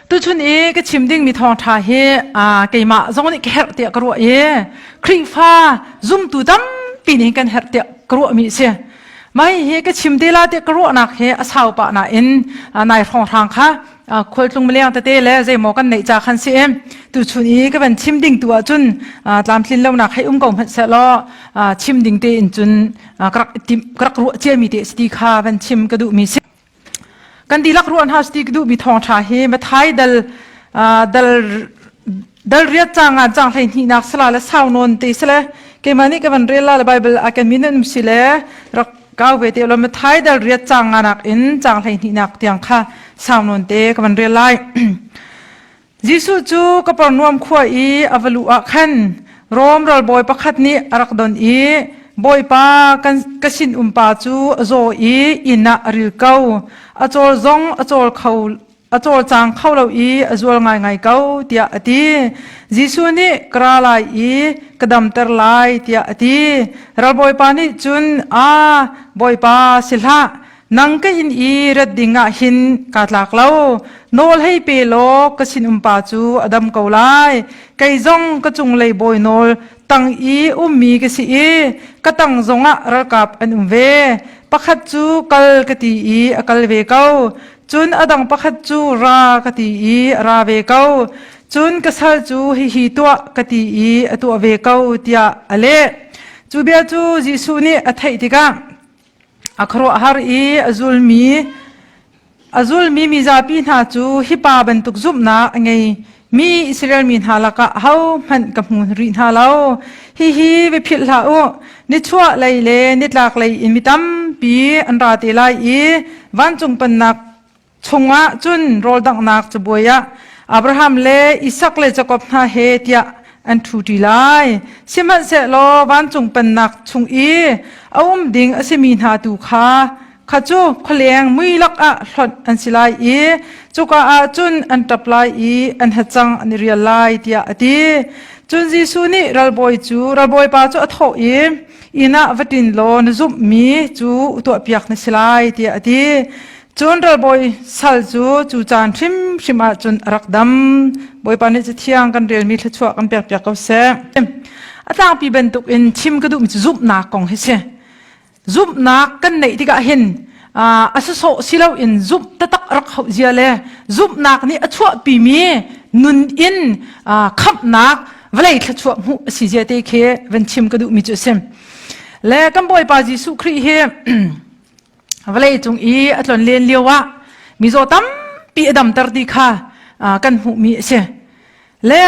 Tuchun i ka chim dingmi thawngṭha hi keimah zong nih ka herh tiah ka ruah i Khrihfa zumtu tampi nih kan herh tiah ka ruahmi a si. Mah hi ka chim te la tiah ka ruahnak hi a sau pah nain nai hrawnghrang kha khualtlung mileng tete le zeimaw kan neih ca khan si i tuchun i ka van chim ding tu ahcun tlamtlin lonak hei um ko hmanh sehlaw chim ding tein cun ka rak ruah ciami te a si ti kha van chim ka duhmi si. kan dihlak ruah hna sti ka duhmi thawngtha hi Mathai dal dal dal riat cang an cang hlei hnih nak sala le sau non te sale keimah nih kavan rel la le bible a kan min um si le rak kaw ve te lo Mathai dal riat cang nga nak in cang hlei hnih nak tiang kha sau non te kavan rel lai Jesuh cu Kapernaum khua i a va luh ah khan Rom ralbawi pakhat nih a rak don i, Bawipa, ka sinum pa cu a zaw i inn ah a ril ko. A cawl zong a cawl kho a cawlcang kho lo i a zual ngaingai ko tiah a ti. Jesuh nih ka ra lai i ka damter lai tiah a ti. Ralbawipa nih cun, Aa, Bawipa si hlah, nang ka in i rat ding ah hin ka tlak lo nawl hei pe law ka sinum pa cu a dam ko lai kei zong ka cunglei bawi nawl tang i ummi ka si i ka tang zong ah ralkap an um ve pakhat cu kal ka ti i a kal ve ko cun a dang pakhat cu ra ka ti i ra ve ko cun ka sal cu hi hi tuah ka ti i a tuah ve ko tiah a leh cu bia cu Jesuh nih a theih tikah A khuaruahhar i a zulmi mizapi hna cu hipa bantuk zumhnak a ngeimi Israel mi hna lakah ahohmanh ka hmu rih hna lo. Hihi va philh hlah u. Nichuahlei le nitlaklei in mi tampi an ra te lai i vancung pannak chungah cun rawldanghnak cabuai ah Abraham le Isak le Jakob hna he tiah an ṭhu ṭi lai. Sihmanhsehlaw vancung pannak chung i a um ding a simi hna tu kha kha cu khualeng mui lakah hlonh an si lai i cuka ah cun an ṭap lai i an hacang an i rial lai tiah a ti. Cun Jesuh nih ralbawi cu ralbawipa cu a thawh i inn ah va ṭin law na zumhmi cu tuahpiak na si lai tiah a ti. cun ralbawi sal cu cu caan hrimhrim ah cun a rak dam bawipa nih cu thiang kan relmi thluachuah kan pek piak ko seh a tlangpi bantuk in chim ka duhmi cu zumhnak kong hi si zumhnak kan neih tikah hin a sawsawh si loin zumh tatak rak hauh zia le zumhnak nih a chuahpimi nun in khamhnak vawlei thluachuah hmuh a si zia te khi van chim ka duhmi cu a si le kan bawipa jesuh khrih hi vawleicung i a tlon len lio ah mizaw tampi a damter ti kha kan hmuhmi a si le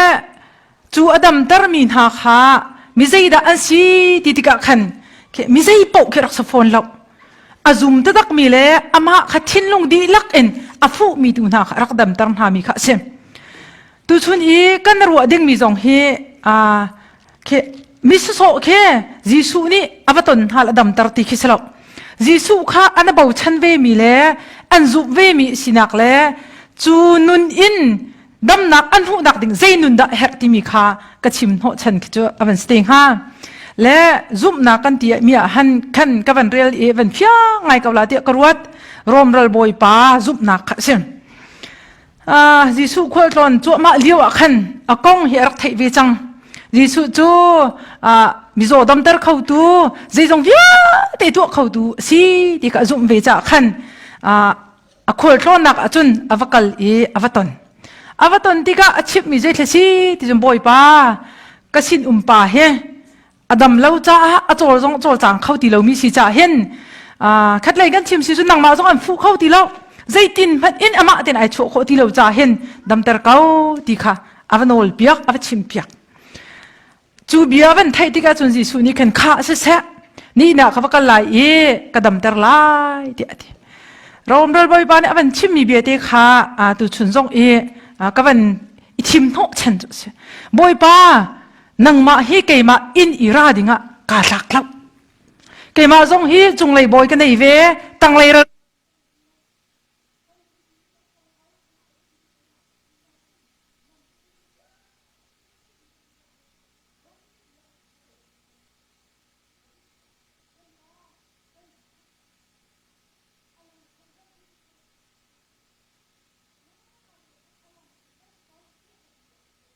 cu a damtermi hna kha mi zeidah an si ti tikah khan mi zei paoh khi rak sa fawn lo a zum takmi le amah kha thinlung dihlak in a fuhmi tu hna kha rak damter hna mi kha a si Tuchun i kan ruah dingmi zong hi aa khi misawsawh khi Jesuh nih a va ton hna la damter ti khi si lo. Jesuh kha an a bochan vemi le an zumh vemi sinak le cu nun in damnak an hmuhnak ding zei nun dah a herh timi kha ka chim hnawh chan khi cu a van si te hnga. Le zumhnak kan ti mi ah han khan ka van rel i van fiang ngai ko la tiah ka ruat. Rom ral bawipa zumhnak kha a si. Jesuh khualtlawn cuahmah lio ah khan a kong hi a rak theih ve cang. Jesuh cu mizaw damter khotu zeizong vialte tuah khotu a si ti ka zumh ve caah khan a khualtlawnnak ahcun a va kal i a va ton. A va ton tikah a chimhmi zei thla si ti cun Bawipa ka sinum pa hi a dam lo caah a cawl zong cawlcang kho ti lomi si caah hin khatlei kan chim si cu nangmah zong an fuh kho ti lo zeitin hmanh in amah ten ai chuah khawh ti lo caah hin damter ko ti kha a va nawl piak a va chim piak cu bia van theih tikah cun Jesuh nih khan kha si seh ni na ka va kal lai i ka damter lai ti a ti Rom ral bawipa nih a van chimmi viate kha tu chun zong i ka van i thim hnawh chen cu si Bawipa nangmah hi keimah inn i ra dingah kaa tlak lo keimah zong hi cunglei bawi ka nei ve tanglei ral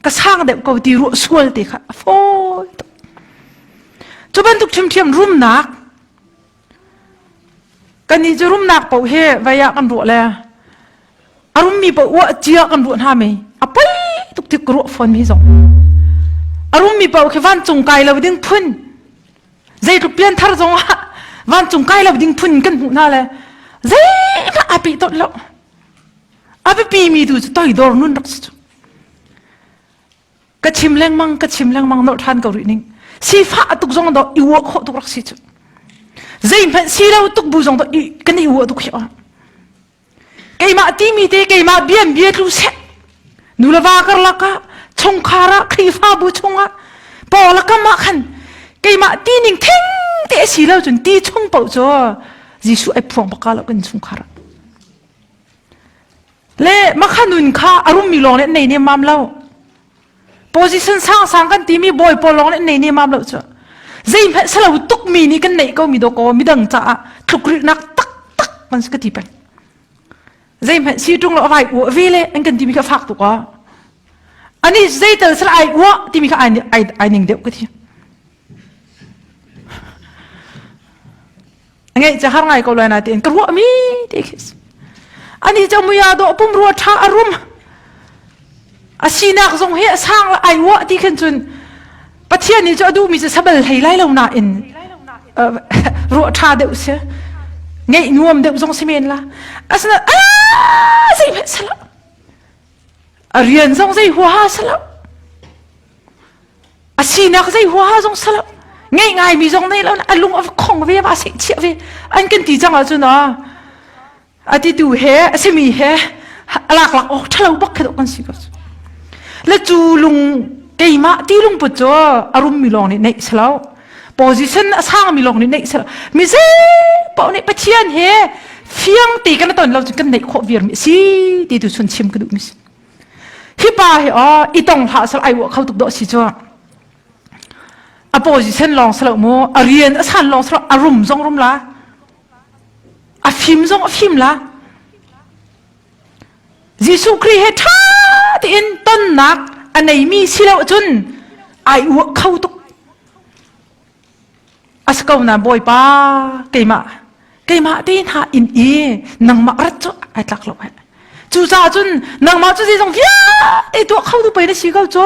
ka sang deuh ko ti ruah sual te kha a fawi tuk cu bantuk ṭhimṭhiam rumnak kan nih cu rumnak paoh hi vai ah kan ruah le a rummi paoh uah cia kan ruah hna mei a poi tuk tik ruah fawn mi zong a rummi paoh khi vancung kai lo ding phun zeitluk pian thar zong ah vancung kai lo ding phun kan hmuh hna le zeihmanh a pih tot lo a biapimi tu cu toidor nun rak si cu ka chim lengmang ka chim lengmang nor ṭhan ko rih ning sifah tuk zong do i uak khawh tuk rak si cu zeihmanh si lo tuk bu zong do i kan i uah tuk hi ah keimah timi te keimah bian bia tlu se nulava karlak ah chungkhar ah khrifabu chungah paula kamah khan keimah ti ning theng te si lo cun ti chung po cu Jesuh ai phuang baka lo kan chungkhar le makhanun kha a rummi lawng nih nei nemam lo position sangsang kan timi bawi pawl lawng nih nei nemam lo cu zeihmanh salo tukmi nih kan neih ko mi dawko midang caah tlukrilnak taktak man ka ti peng zeihmanh si tung lo vai u ve le an kan timi ka fak tu ko ani zeital sal ai u timi ka ai ai ning deuh ka thi ngai cha har ngai ko lai na tiin ka ruah mi ti khis ani cha muya do pum ru tha arum asinak zong he asang la ai wa ti khen chun pathian ni cho du mi se sabal thei lai lo na in ru tha deu se ngei nuam deu zong semen la asna a sei phe sala A rian zong zei huaha salo. A sinak zei huaha zong salo. Ngei ngaimi zong nei lo. A lung a khong ve ba sei chia ve. An kan ti cang ahcun ah a ti tu he a simi he a lak lak awk thalo bak khi kan si ko. La cu lung keimah ti lung put cu a rum mi lawng nih neih salo. position a sangmi lawng nih neih mi zei paoh nih pathian he fiang ti kan ton lo kan neih khawh vir mi si ti tu sun chim ka duh mi si hi pa hi o i tong hla sal ai wa kho tuk do si chu a position long salo mu a rian a san long salo a rum zong rum la a fim zong a fim la Jesuh Khrih he ṭha tein tonnak a neimi si lo ahcun ai uak kho tuk. A si ko na Bawipa keimah keimah te hna in i nangmah rat cu ai tlak lo heh. Cucaah cun nangmah cu zeizong vialte tuah kho tu pei na si ko cu.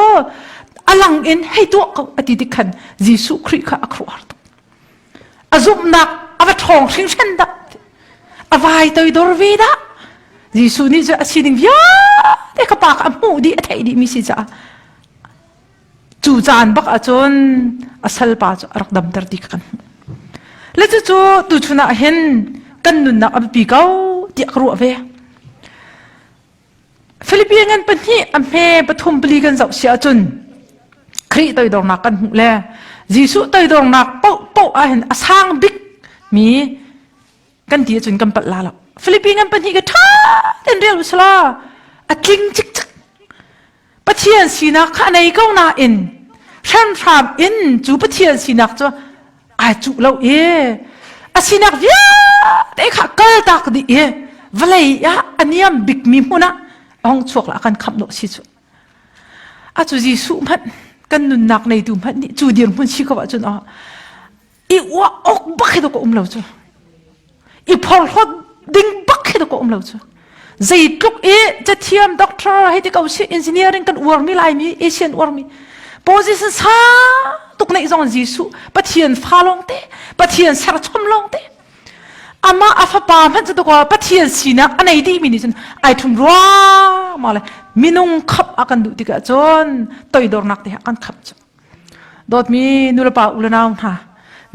A lang in hei tuah ko a ti tik khan Jesuh Khrih kha a khuar tuk. a zumhnak a va ṭhawng hringhran dah a vai toidor ve dah Jesuh nih cu a sining vialte ka pa a hmuh dih a theih dih mi si caah cu caan bak ahcun a salpa cu a rak damter ti kan hmuh le cucu tuchun ah hin kan nunnak a biapi ko tiah ka ruah ve Philippi ngan pahnih a hme pathum pali kan zoh si ahcun Khrih toidornak kan hmuh le Jesuh toidornak paoh paoh ahhin a sang bik mi kan ti ahcun kan palh la lo Philippi ngan pahnih ka ṭha tein rel usla a tling cikcek Pathian sinak kha a nei ko nain hranhram in cu Pathian sinak cu ai cuh lo i a sinak vialte kha kaltak dih i vawlei ah a niam bikmi hmun ah ong chuak la kan khamh lo si cu a cu Jesuh hmanh kan nunnak neitu hmanh nih cu dir hmun si ko ahcun oh i uak ok bak hi ka um lo cu i phorhlot ding bak khi ka um lo cu zeitluk i chathiam doctor hei ti ko si engineering kan uar mi lai mi asian uar mi position sa tuk nei zong jesu pathian fa long te pathian ser chom long te ama afapa man chu to pathian sinak anei di mi ni chun ai thum rwa ma le minung khap akan du tika chon toidor nak te kan khap chu Dawtmi nulepa ulenau hna,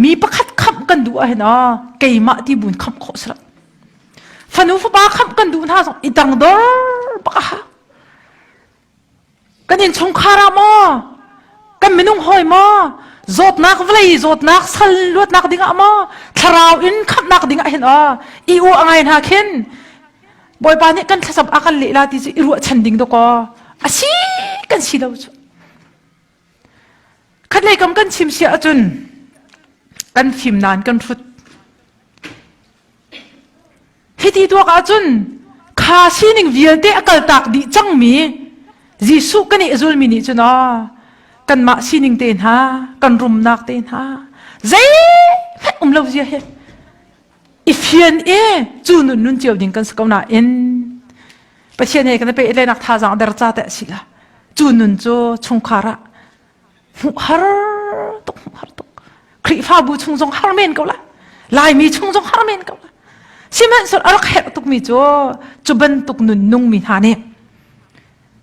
mi pakhat khamh kan duh ahhin ah keimah ti buin khamh khawh si lo. Fanu fapa khamh kan duh hna zong i dang dor baka ha. Kan innchungkhar ah maw, kan minung hawi maw, zawtnak vlei zawtnak sal luatnak dingah maw, thlarau in khamhnak dingah hin ah i u angai hna khin bawipa nih kan thlasam a kan lehla ti cu i ruahchan ding dawko a si kan si lo cu Khatlei kam kan chim siah ahcun kan fim nan kan hrut. Hiti tuak ahcun kha sining vialte a kaltak dih cangmi Jesuh kan i zulmi nih cun ah kanmah sining te hna kan rumnak te hna zei fek um lo zia hi i fian e cu nun nun cio ding kan si ko nain pathian he kan pe le nak thazang der cha te sila cu nun cu chungkhar ah hmu har tuk hmu har tuk khrifa bu chung zong har men ko la laimi chung zong har men ko la sihmanhsur arak her tuk mi cu cu bantuk nun nung mi hna nih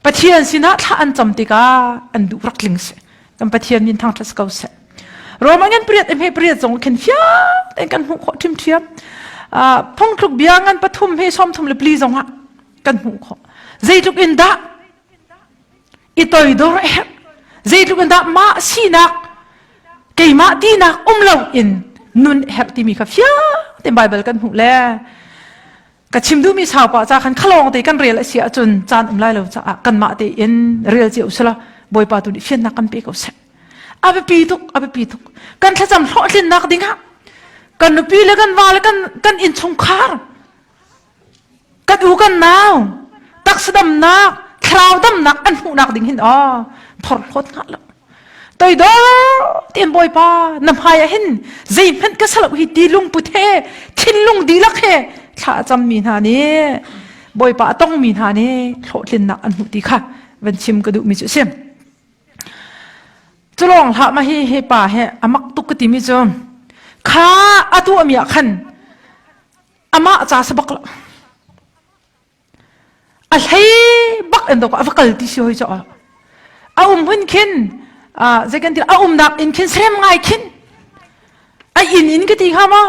Pathian sinah thla an cam tikah an duh rak tling si kan Pathian min thang thlas ko se Roman an pariat hme pariat zong khen fiak en kan hmu kho thim thiam phong tluk bia ngan pathum he som thum le pli zong ah kan hmu kho zeitluk in dah i toi dor er zeitluk in dah ma sinak keimah tinak um lo in nun her timi kha fiak te bible kan hmu le ka chim duhmi sau pa ca khan khalawng te kan rel a si ahcun caan um lai lo caah kanmah te in rel cio sela bawipa tu nih fiannak kan pe ko seh a biapi tuk a biapi tuk kan thlacam hlawhtlinnak ding ah kan nupi le kan va le kan kan innchungkhar kan u kan nau taksadamnak thlarau damnak an hmuhnak ding hin o thor hlawt nga lo toidor tian bawipa na hmai ah hin zeihmanh ka salok hi ti lungput he thinlung dihlak he thla a cam mi hna nih bawipa a tong mi hna nih hlawhtlinnak an hmuh ti kha van chim ka duh mi cu sim culong hla ma hi he pa he amak tuk ka ti mi cu kha atu ami ah khan ama ca sabak la a hlei bak in a va kal ti si hoi caah a um hun khin zei kan ti a umnak in khin serem ngai khin a in in ka ti hnga ma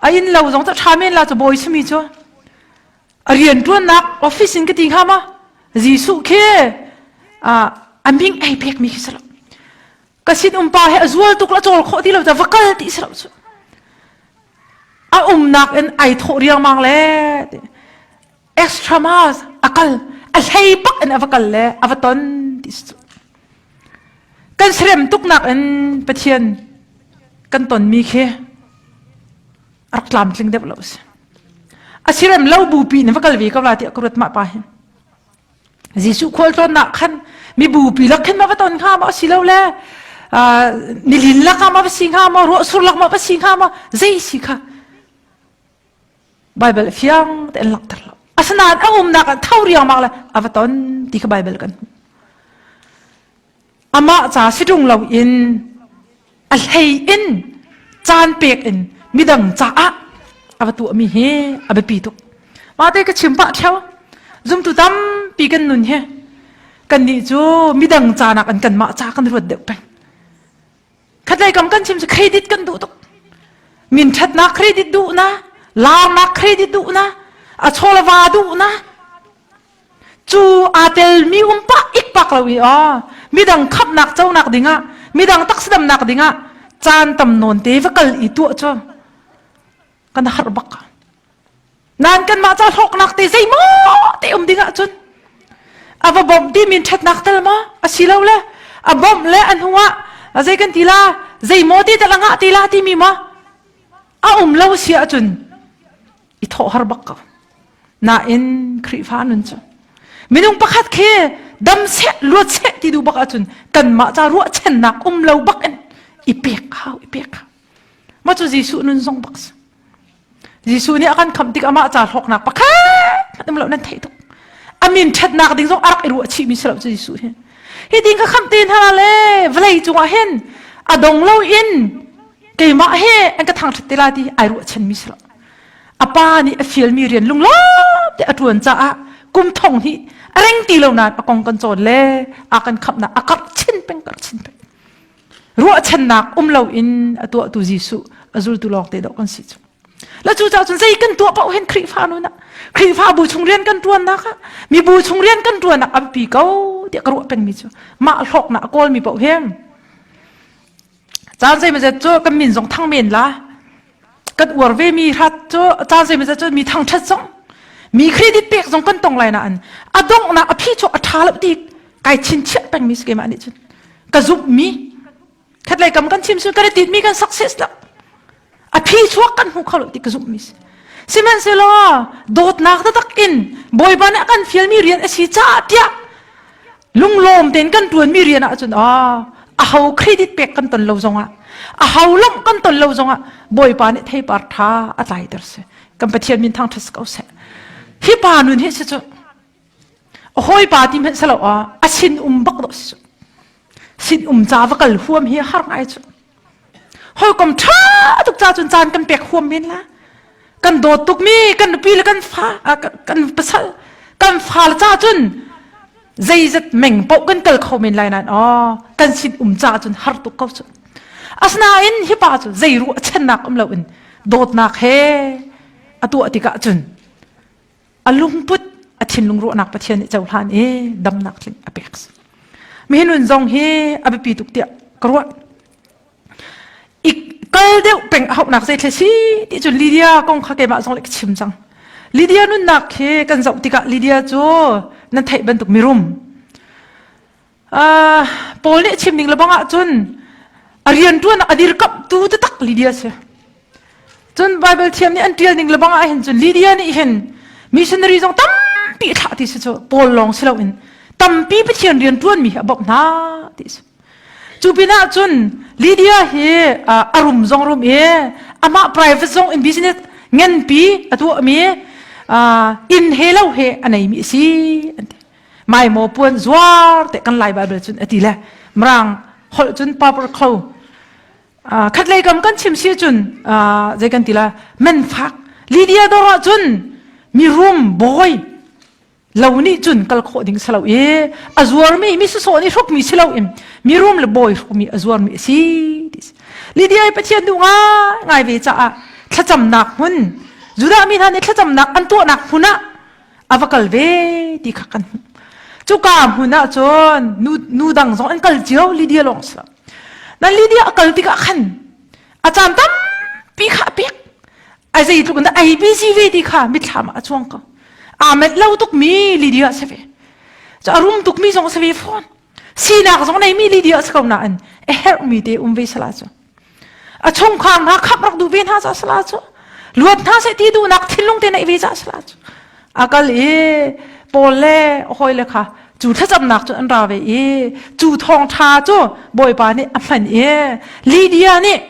a in lo zong ca ṭha men la cu bawi sumi cu a rian ṭuannak office in ka ti hnga ma Jesuh khi a ming ei pek mi khi salo ka sinum pa he a zual tuk la cawl khawh ti lo va kal ti si lo cu a umnak in ai thawh riangmang le extra mas a kal a hlei pak in a va kal le a va ton ti si cu kan serem tuknak in pathian kan ton mi khi rak tlam tling deuh lo si asirem lo bu pi ne va kal ve ka va ti akurat ma pa hin Jesuh khualtlawnnak khan mibupi lak khin ma va ton hnga maw si lo le nilin lak ah ma va si hnga maw ruahsur lak ma va si hnga maw zei si kha Bible fiang te an langhter lo asinain a umnak an tho riangmang le a va ton ti kha Bible kan hmuh amah ca sidung loin a hlei in caan pek in midang caah a va tuahmi hi a biapi tuk mah te ka chim pah theu zumtu tampi kan nun hi kan nih cu midang ca nak in kan mah ca kan ruat deuh peng khatlei kam kan chim credit kan duh tuk min ṭhatnak credit duh na laarnak credit duh na a chawlava duh na Cu aa telmi um pah ikpak lo i aw midang khamhnak conak dingah midang taksidamnak dingah caan tam nawn te va kal i tuah cu kan har bak. Nan kanmah ca hlawknak te zeimaw te um dingah cun a va bawmh timi ṭhatnak tel maw asi lo le a bawmh le a hnuah a zei kan ti la zeimaw te tel a ngah te la timi maw a um lo si ahcun i thawh har bak ko nain Khrihfa nun cu minung pakhat khi dam seh luat seh ti duh bak ahcun kanmah ca ruahchannak um lo bak in i pek hau i pek hau mah cu Jesuh nun zong bak si Jesuh nih a kan kham tik amah ca hlawknak pakhat um lo nan thei tuk a min ṭhatnak ding zong a rak i ruah chih mi si lo cu Jesuh hi hi ding ka kham te hna le vlei cungah hin a dong lo in keimah he an ka thang ṭhat te la ti ai ruah chen mi si lo a pa nih a fialmi rian lunglam te a ṭuan caah kum thong hi a reng ti lo nain a kong kan cawn le a kan khamhnak a karh chin peng karh chin peng ruahchannak um loin a tuahtu Jesuh a zultu lawng te dawh kan si cu la cu ca cun zei kan tuah pauh hen Khrihfa nu na Khrihfa bu chung rian kan ṭuannak ah mi bu chung rian kan ṭuannak an pi ko tiah ka ruah pengmi cu mah hlawknak a kawlmi pauh hen caan zeimazet cu kan min zong thang men la kan uar ve mi hrat cu caan zeimazet cu mi thangthat zong mi credit pek zong kan tong lai na an a dongh na a phi chu a tha lo ti kai chin chiah peng mi skema ani chun ka zup mi khatlei kam kan chim sun kan tit mi kan success lo a phi chuak kan hmu kho lo ti ka zumh mi si sihmanhsehlaw dawtnak taktak in bawipa nih a kan fialmi rian a si caah tiah lunglawm tein kan tuanmi rian ah cun a aho credit pek kan ton lo zongah a ho lawmh kan ton lo zongah bawipa nih theipar tha a tlai ter si kan pathian min thang thas ko seh hi pa nun hi si cu a hawipa ti hmanh salo a a sin um bak do sin um ca va kal huam hi har ngai cu hawikom tha tuk ca cun caan kan pek huam men la kan dawt tuk mi kan nupi le kan fa kan pasal kan fa la ca cun zeizat meng po kan kal kho men lai nan o kan sin um ca cun har tuk ko cu asnain hi pa cu zeiru a chennak um lo in dawtnak he atu atika cun a lungput a thinlung ruahnak pathian nih cohlan i damnak tling a pek mi nun zong hi a biapi tuk tiah ka ruah i kal deuh peng a hauhnak zeitle si ti cun lydia kong kha keimah zong le ka chim cang lydia nunnak hi kan zoh tikah lydia cu nan theih bantuk mirum Paul nih chim ning lebang ahcun a rianṭuannak a dirkamhtu taktak Lydia si. Cun Baibal thiam nih an ṭial ning lebang ah hin cun Lydia nih hin missionary zong tampi thlah ti si cu Paul lawng si loin tampi Pathian rianṭuanmi hi a bawmh hna ti si. Cu pinah cun Lydia hi a rum zong rum i amah private zong in business nganpi a tuahmi inn he lo he a neimi a si an ti. mai mo puan zuar te kan lai bible cun ati le mrang hol cun pauper kho khat lei kam kan chim si cun zei kan tila men fak lydia dora cun mi rum boy lo ni cun kal kho ding salo i azuar mi mi su so ni hruk mi silo im mi rum le boy hruk mi azuar mi si dis lydia i pathian du nga ngai ve cha a thlacam nak hun juda mi hna ne thlacam nak an to nak huna a va kal ve ti kha kan hmuh cuka hmun ah cun nu nu dang zong an kal cio lydia lawng si lo nan lydia a kal tikah khan a caan tampi kha a pek ai zei tluk in ai busy ve ti kha mitthlam ah a chuang ko aa met lo tuk mi lydia se ve a rum tuk mi zong se ve fawn sinak zong neimi Lydia si ko nain a herhmi te um ve sala cu a chungkhar hna khap rak duh ve hna ca sala cu luat hna se ti duhnak thinlung te nei ve ca sala cu akal i Paul le hoi le kha cu thlacamnak cu an ra ve i cu thong tha cu bawipa nih a hman i Lydia nih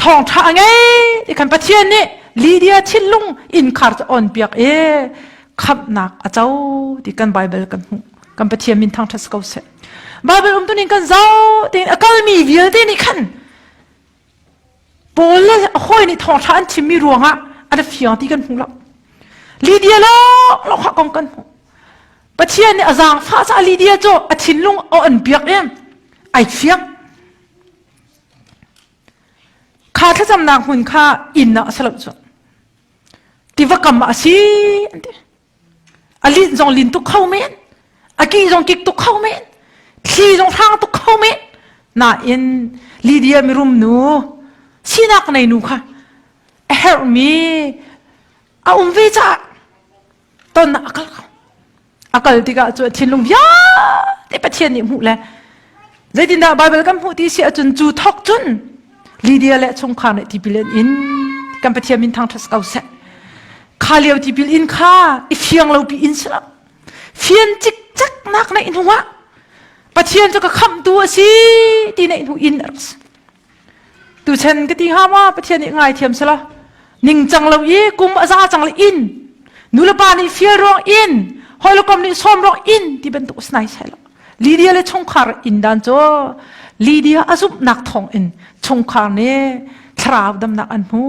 thawngtha a ngei i kan pathian nih lydia thinlung innkhar cu on piak i khamnak a co ti kan bible kan hmuh kan pathian min thangthat ko seh bible umtuning kan zau tein a kalmi vialte nih khan paul le a hoi nih thawngtha an chimmi ruangah an fiang ti kan hmuh lo lydia lawnglawng ha kong kan hmuh pathian nih a zaangfah ca lydia cu a thinlung a on piak i ai fiang kha thlacamnak hmun kha innak a si lo cu tiva kam ah a si an ti a lin zong lin tuk kho men a ki zong kik tuk kho men thli zong hrang tuk kho men nain lydia mirum nu sinak nei nu kha a herhmi a um ve caah ton a kal ko a kal tikah cu a thinlung vialte Pathian nih hmuh le zeitindah Baibal kan hmuh ti si ahcun cu thok cun Lydia le chungkhar nih tipil an in kan Pathian min thangṭhat ko seh kha lio tipil in kha i fiang lopi in si lo fian cikcaknak neih hnuah Pathian cu ka khamhtu a si ti neih hnu in a rak si tuchen ka ti ha ma pathian nih ngaithiam sela ningcang lo i kum a za cang le in nulepa nih fial ruang in hoilokom nih som ruang in ti bantuk snai sela lydia le chungkhar in dan cho lydia azum nak thong in chungkhar ne thlarau damnak an hmu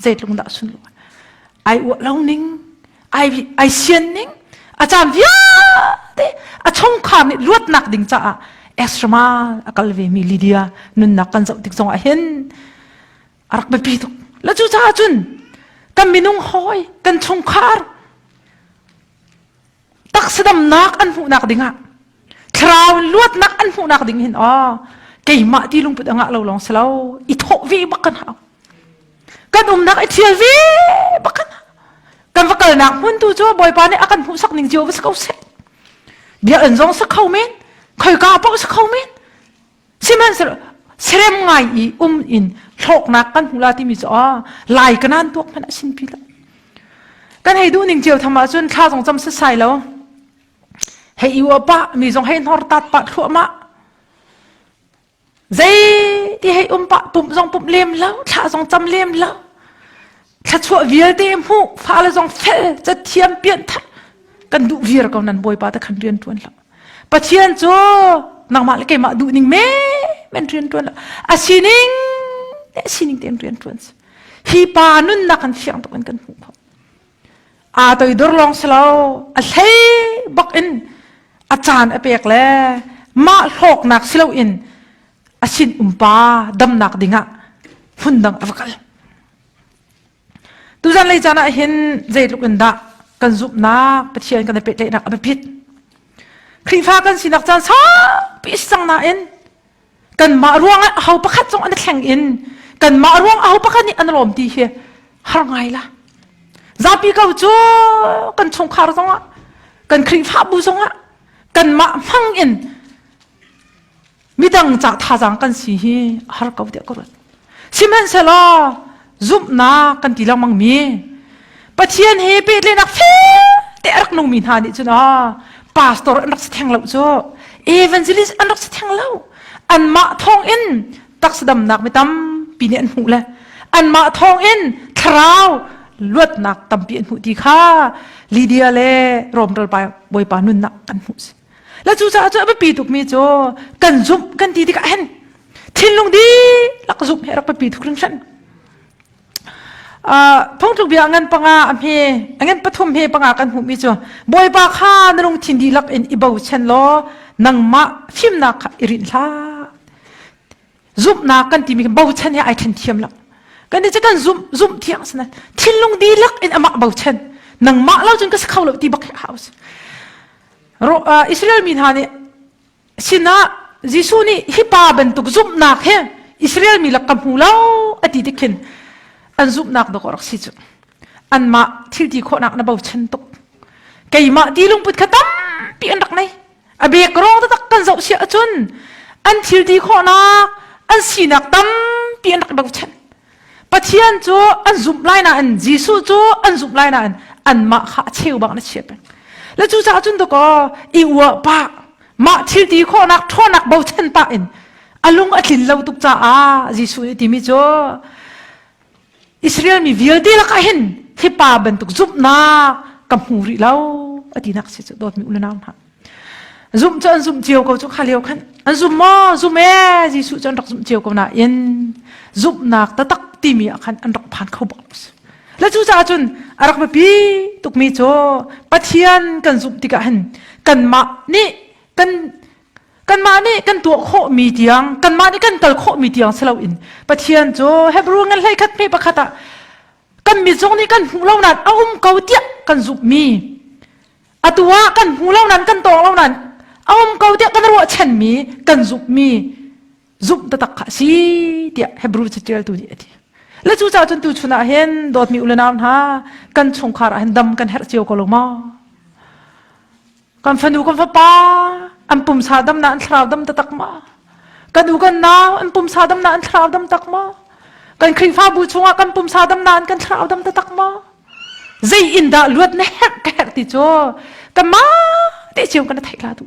zeitlung dah sun ai u lo ning ai ai sian ning a caan vialte a chungkhar nih luatnak ding caah esramal a kal ve mi Lydia nunnak kan zoh tik zong ah hin a rak biapi tuk la cu caah cun kan minung hawi kan chungkhar taksidamnak an hmuhnak dingah thlarau in luatnak an hmuhnak ding hin aw keimah ti lungput angah lo long selo i thawh vi bakan ha kan umnak i thial vi bakan kan va kalnak hmun tu cu bawipa nih akan hmuhsak ning cio va sa ko se bia an zong sa kho men khoi ka pa sa kho men siman serem ngai i um in hloknak kan hula ti mi chu a lai kanan tuak man asin pila kan hei du ning cio thama cun thla zong cham sa sai lo Hei i uap ah mi zong hei hnor tat pah thluahmah. Zei ti hei um pah pumh zong pumh lem lo, thlah zong cam lem lo. Thlachuah vialte hmu, fale zong fel, cathiam pian thar. Kan duh viar ko nan bawipa ta khan rian tuan lo. Pathian cu nangmah le keimah duh ning me men rian tuan lo. A sining te sining te rian tuan si. Hi pa nunnak kan fiang tuk in kan hmuh. aa toidor lawng si lo a hlei bak in a caan a pek le mah hlawknak si loin a sin umpa damnak dingah phundang a va kal tuzan lei caan ah hin zeitluk in dah kan zumhnak pathian kan i pehtlaihnak a biapit Khrihfa kan sinak caan saupi cang nain kanmah ruangah ho pakhat zong an i thleng in kanmah ruang aho pakhat nih an lawm ti hi har ngai la zapi ko cu kan chungkhar zongah kan khrihfabu zongah kanmah hmang in midang ca thazaang kan si hi har ko deh ko rut Sihmanhsehlaw zumhnak kan ti lengmang mi Pathian he pehtlenak te a rak nungmi hna nih cun ah pastor an rak si theng lo cu evangelist an rak si theng lo anmah thawng in taksa damnak mi tampi nih an hmuh le anmah thawng in thlarau luatnak tampi an hmuh ti kha Lydia le Rome ralbawipa nunnak kan hmuh si la cu caah cu a biapi tukmi cu kan zumh kan ti tikah hen thinlung di lak zumh he rak biapi tuk hrinhran phungtluk bia ngan panga a hme ngan pathum he panga kan hmuhmi cu bawipa kha na lungthin dihlak in i bochan law nangmah fimnak kha i rinh hlah zumhnak kan timi bochan he ai ṭhen thiam lo kan ti kan zumh zumh thiang sana thinlung dihlak in amak bochan nangmah lo cun ka si kho lo ti bak house ro Israel mi hna nih sinah Jesuh nih hi pa bantuk zumhnak he Israel mi lak ka hmu lo ati tikhin an zumhnak dok rak si cu anmah thilti khawhnak na bochan tuk keimah ti lungput kha tampi an rak nei a bek rong taktak kan zoh si ahcun an thil ti khawhnak an sinak tampi an rak bochan pathian cu an zumh lai na in jesuh cu an zumh lai na in anmah kha a cheu bak na chia peng le cu ca cun to ko i ua pa mah thil ti khawhnak ṭhawnnak bochan pa in a lung a tlin lo tuk caah jesuh nih timi cu Israel mi vialte lakah hin hipa bantuk zumhnak ka hmu rih lo atinak si cu dawtmi unau hna zumh cu an zumh cio ko cu kha leo khan an zum maw zum e Jesuh cu an rak zumh cio ko na in zumhnak tatak timi ah khan an rak phan kho bak le cu caah cun a rak biapi tukmi cu Pathian kan zumh tikah hin kanmah nih kan kanmah nih kan tuah khawhmi tiang kanmah nih kan kal khawhmi tiang si loin Pathian cu Hebrew ngan hlei khat hme pakhat ah kan mi zong nih kan hmuh lo nan a um ko tiah kan zumhmi atu ah kan hmu lo nan kan tawng lo nan a um ko tiah kan ruahchanmi kan zumhmi zumh taktak kha a si tiah Hebrew catialtu nih a ti le cu ca cun tu chun ah hin dawtmi ulenau hna kan chungkhar ah hin dam kan herh cio ko lo ma kan fanu kan fapa an pumsa dam na an thlarau dam tatak ma kan u kan nau an pumsa dam na an thlarau dam tak ma kan khrifabu chungah kan pumsa dam na an kan thlarau dam tatak ma zei in dah luat na herh ka herh ti cu ka ma te chiam kana theih la tu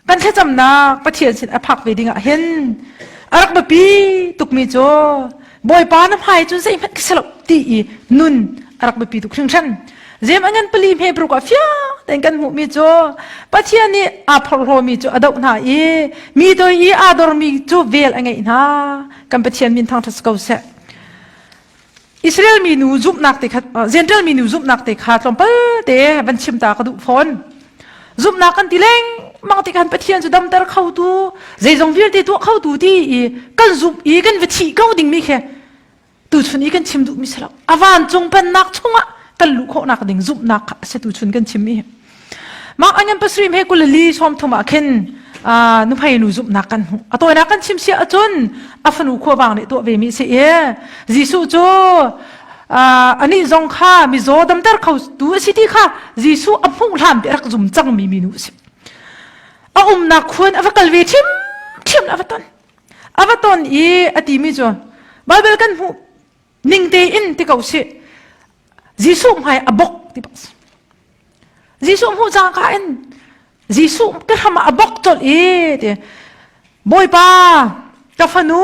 kan thlacamnak Pathian sin a phak ve ding ah hin a rak biapi tukmi cu bawipa na hmai cun zeihmanh ka si lo ti i nun a rak biapi tuk hringhran zem angan pali hme bruk ah fiang ten kan hmuhmi cu Pathian nih aa phorhlomi cu a doh hna i mi toi i aa dormi cu vel a ngeih hna kan Pathian min thang ṭha si ko seh Israel mi nu zumhnak te kha Zentail mi nu zumhnak te kha tlawmpal te van chim ta ka duh fawn zumhnak kan ti leng mang ti kan pathian cu damter kho tu zeizong vialte tuah kho tu ti i kan zumh i kan va thi ko ding mi khe tu chun i kan chim duh mi selo avan cung pannak chungah kan luh khawhnak ding zumhnak kha se tu chun kan chim mi Mah anyan pasrim he kulali som thum ah khin nuhmei nu zumhnak kan hmu atoinak kan chim sia acun a fanu khuavang nih tuah ve mi si i Jesuh cu ani zong kha mizaw damter kho tu a si ti kha Jesuh a hmuh hlam pe rak zum cang mi minu si a umnak khuan a va kal ve ṭhim ṭhim a va ton a va ton i a ti mi cu Bible kan hmuh ning tein ti ko sih Jesuh hmai a bok ti bas Jesuh hmu cangka in Jesuh te ham a bok chol i ti Bawipa ka fanu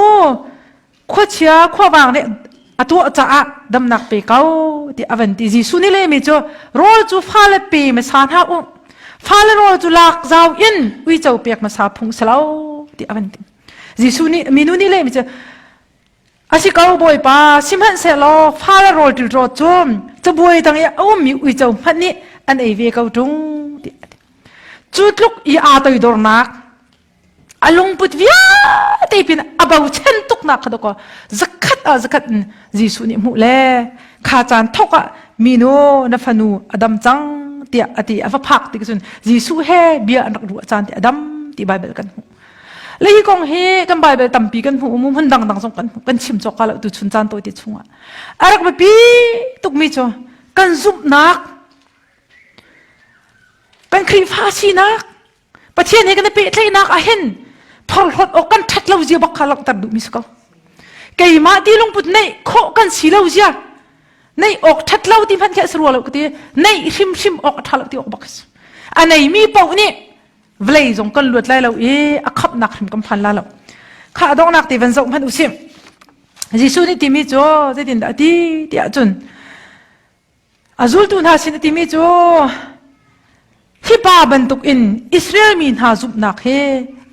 khuachia khuavang nih a tuah caah damnak pe ko ti avan ti Jesuh ni le mi cu rol cu fale pe ma sa hna u fale rol cu lak zau in uico pek ma sa phung selo ti avan ti Jesuh nih minu ni le mi cu Asi ko Bawipa, sihmanhsehlaw fa le rawl ṭilrawt cu cabuai dang i a ummi uico hmanh nih an ei ve ko ṭung, tiah a ti. Cu tluk i aa toidornak, a lungput vialte pin a bochan tuknak kha dawkaw zakhat ah zakhat in Jesuh nih hmuh le kha caan thawk ah minu na fanu a dam cang tiah a ti a va phak ti cun Jesuh he bia an rak ruah caan ti a dam ti Baibal kan hmuh. le hi kong hi kan bible tampi kan hmu mu hmun dangdang zong kan kan chim cawk ka lo tu chun caan tawi te chungah a rak biapi tukmi cu kan zumhnak kan khrihfa sinak pathian he kan i pehtlaihnak ahin thorhlot awk kan that lo zia bak kha langhter duhmi si ko keimah ti lungput nei khawh kan si lo zia nei ok that lo ti hman khe srua lo ti nei hrim hrim ok tha lo ti ok bak a nei mi po nih vawlei zong kan luat lai lo i a khapnak hrim kan phan la lo kha donghnak te van zoh hmanh usim Jesuh nih timi cu zeitin dah ti tiah cun a zultu hna sin timi cu thipa bantuk in Israel mi hna zumhnak he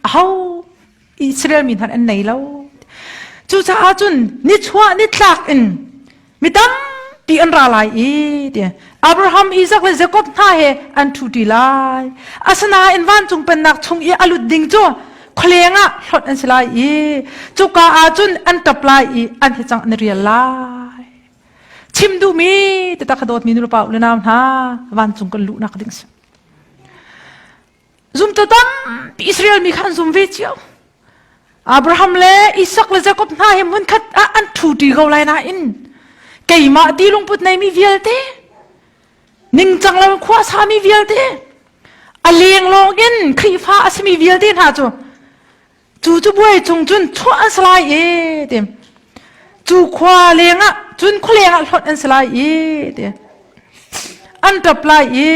a ho Israel mi hna an nei lo. Cucaah cun nichuah nitlak in mi tampi an ra lai i Abraham, Isaac le Jacob hna he an ṭhuṭi lai. Asinain vancung pennak chung i a lut ding cu khualeng ah hlonh an si lai i cuka ah cun an ṭap lai i an hi cang an rial lai. Chim duhmi takha dawtmi nupa u le nau hna, vancung kan luhnak ding si. zumtu tampi Israel mi kha an zum ve cio. Abraham le Isak le Jakob hna hi munkhat ah an ṭhuṭi ko lai nain keimah ti lungput neimi vialte ningcang lo khua sami vialte a leng lawng in Khrihfa a simi vialte hna cu cu cubuai cung cun chuah an si lai e ti cu khua leng ah cun khualeng ah hlawt an si lai e ti an ṭap lai e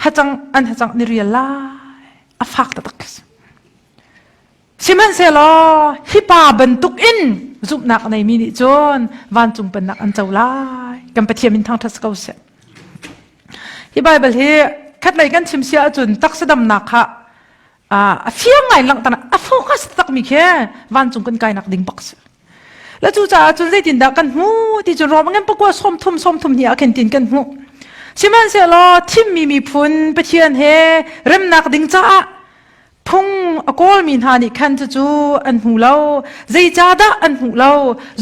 hacang an hacang ni rial lai a fak taktak sihmanhsehlaw hi pa bantuk in zumhnak nei mi nih cun vancung pennak an co lai kan pathian min thangṭhat si ko sih hi baibal hi khatlei kan chim sia ahcun taksadamnak kha a fiang ngai langhter a focus takmi khi vancung kan kainak ding bak si la cu caah cun zeitindah kan hmu ti cu rom angin pakua som thum som thum hi akhen tin kan hmu sihmanhsehlaw thimmi miphun pathian he remnak ding caah phung a kawlmi hna nih khan cucu an hmu lo zeicahdah an hmu lo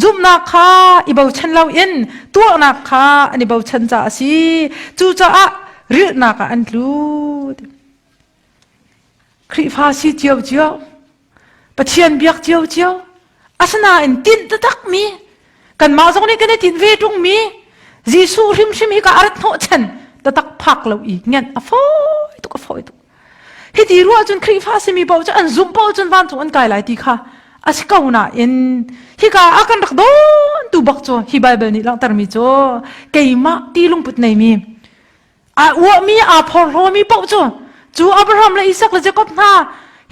zumhnak kha i bochan loin tuahnak kha an i bochan caah a si cucaah rilhnak ah an tlut Khrihfa si ciocio, Pathian biak ciocio. Asinain tinh takmi kanmah zong nih kan i tinh ve ṭungmi Jesuh hrimhrim hi ka arat hnawh chan tatak phak lo i ngen a fawi tuk a fawi tuk. Hi ti ruah cun Khrihfa simi paoh cu an zumh paoh cun vancung an kai lai ti kha asi ko nain hika a kan rak dawn tu bak cu hi Bible nih langhtermi cu keimah ti lungput neimi aa uahmi aa phorhlawmi paoh cu cu Abraham le Isak le Jakob hna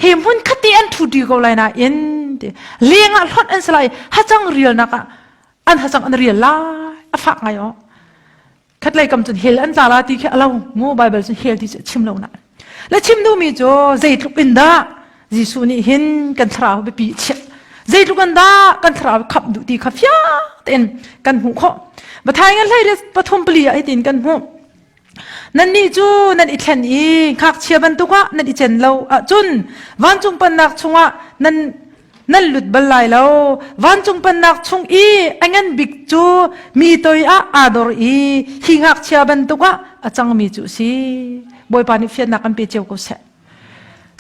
he hmun khati an ṭhu dih ko lai nain leng ah hlonh an si lai hacang rialnak ah an hacang an rial lai a fak ngai o khatlei kam cun hel an tla la ti khi alo mu bible cun hel ti a chim lo na le chim duhmi cu zeitluk in dah Jesuh nih hin kan thlarau biapi chiah zeitluk an dah kan thlarau khap duh ti kha fiang tein kan hmuh khawh Matthai ngan hlei le pathum pali ah hitin kan hmuh nannih cu nan i thlen i ngakchia bantuk ah nan i chen lo ahcun vancung pannak chungah nan nan lut bal lai lo vancung pannak chung i a ngan bik cu mi toi ah aa dor i hi ngakchia bantuk ah a cangmi cu si bawipa nih fiannak an pe cio ko seh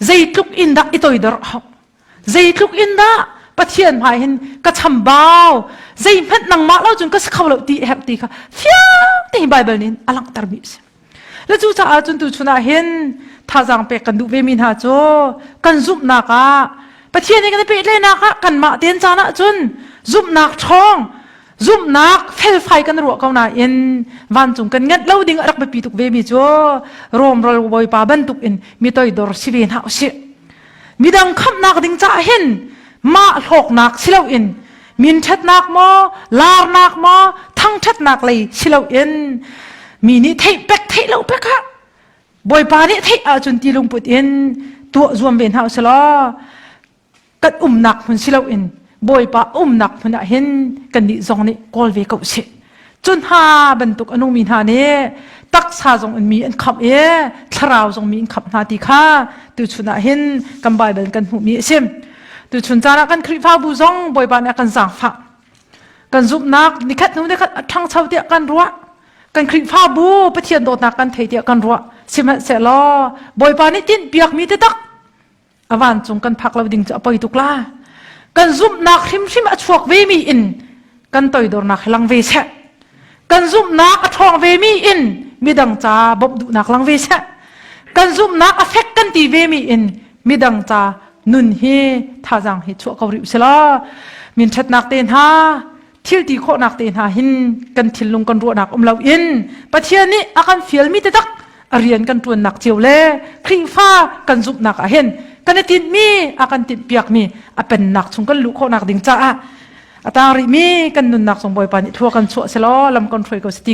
zeitluk in dah i toidor hau zeitluk in dah pathian hmai hin ka chambau zei hmanh nangmah lo cun ka si kho lo ti herh ti kha fiang te bible nin a langhter mi si le cu caah cun tu chunah hin thazang pek kan duh ve mi hna cu kan zumhnak ah pathian i kan i pehtleinak ah kanmah ten caan ah cun zumhnak ṭhawng zumhnak felfai kan ruah ko nain vancung kan nganh lo ding a rak biapi tuk ve mi cu Rom ral bawipa bantuk in mi toi dor si ve hna usih midang khamhnak ding caah hin mah hlawknak si loin minṭhatnak maw larnak maw thangṭhatnak lei si loin mi nih theih pek theih lo pek ah bawipa nih theih ahcun ti lungput in tuah zuam ve hna usih law kan umnak hmun si loin bawipa umnak hmun ah hin kannih zong nih kawl ve ko sih cu hna bantuk anu mi hna nih taksa zong in mi an khamh i thlarau zong mi an khamh hna ti kha tuchun ah hin kan bible kan hmuhmi a si tuchun caan ah kan khrihfabu zong bawipa nih a kan zaangfah kan zumhnak nikhat hnu nikhat a ṭhangcho tiah kan ruah kan khrihfabu pathian dawtnak kan thei tiah kan ruah sihmanhsehlaw bawipa nih tin piakmi te tak a vancung kan phak lo ding cu a poi tuk la kan zumhnak hrimhrim a chuak ve mi in kan toidornak hi lang ve seh kan zumhnak a ṭhawng ve mi in midang ca bawmh duhnak lang ve seh kan zumhnak a fek kan ti ve mi in midang ca nun hi thazang hi chuah ko rih usilaw min ṭhatnak te hna thilti khawhnak te hna hin kan thinlung kan ruahnak um lo in Pathian nih a kan fialmi tedak a rian kan tuannak cio le khringfa kan zumhnak ah hin kan i tinmi a kan timhpiakmi a pennak chung kan luh khawhnak ding caah a tang rih mi kan nunnak sung bawipa nih thua kan chuah selaw lam kan hruai ko si ti